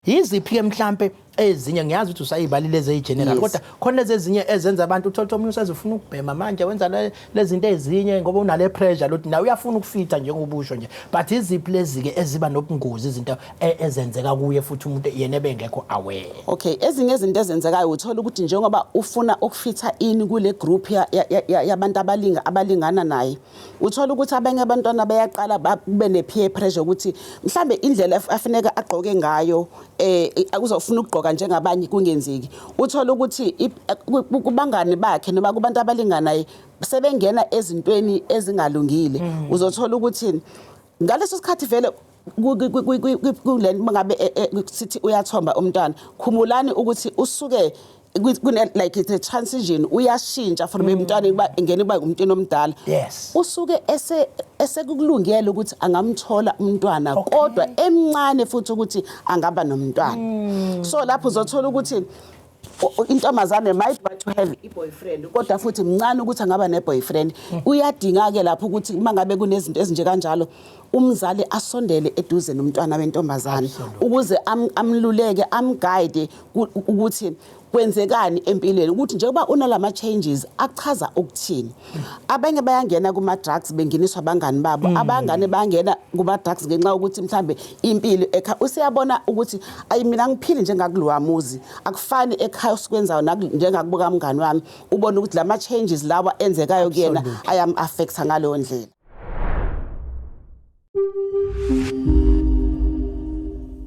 Yiziphi ke mhlambe ezinye ngiyazi ukuthi usayibalile eze general yes. kodwa khona lezi ezinye ezenza abantu uthola umuntu usezofuna ukubhema manje wenza lezi zinto ezinye ngoba unale pressure lothi nawe uyafuna ukufitha njengobusho nje but iziphi lezi ke eziba nobungozi izinto e, ezenzeka kuye futhi umuntu yena ebengekho aware okay ezinye izinto ezenzekayo uthola ukuthi njengoba ufuna ukufitha ini kule group yabantu ya, ya, ya abalinga abalingana naye Uthola ukuthi abanye abantwana bayaqala kube ne-peer pressure ukuthi mhlambe indlela afuneka agqoke ngayo eh uzofuna ukugqoka njengabanye kungenzeki. Uthola ukuthi kubangani bakhe noma kubantu abalinganayo sebengena ezintweni ezingalungile. Mm. Uzothola ukuthi ngaleso sikhathi vele kule ngabe e, e, sithi uyathomba umntwana khumulani ukuthi usuke kune like it's a transition uyashintsha from emntwana mm. kuba ngene kuba umntwana omdala yes usuke ese esekukulungele ukuthi angamthola umntwana kodwa emncane futhi ukuthi angaba nomntwana mm. so lapho uzothola ukuthi intombazane might want to have i-boyfriend kodwa futhi mncane ukuthi angaba ne-boyfriend uyadinga-ke lapho ukuthi uma ngabe kunezinto ezinje kanjalo umzali asondele eduze nomntwana wentombazane ukuze amluleke amguide ukuthi kwenzekani empilweni ukuthi njengoba unalama changes achaza ukuthini abanye bayangena kuma drugs benginiswa abangani babo mm. abangane bangena kuma drugs ngenxa ukuthi mhlambe impilo ekha usiyabona ukuthi ayi mina ngiphili njengakulowa muzi akufani ekhaya usikwenzayo njengakubuka mngani wami ubona ukuthi lama changes lawa enzekayo kuyena ayam affecta ngaleyo ndlela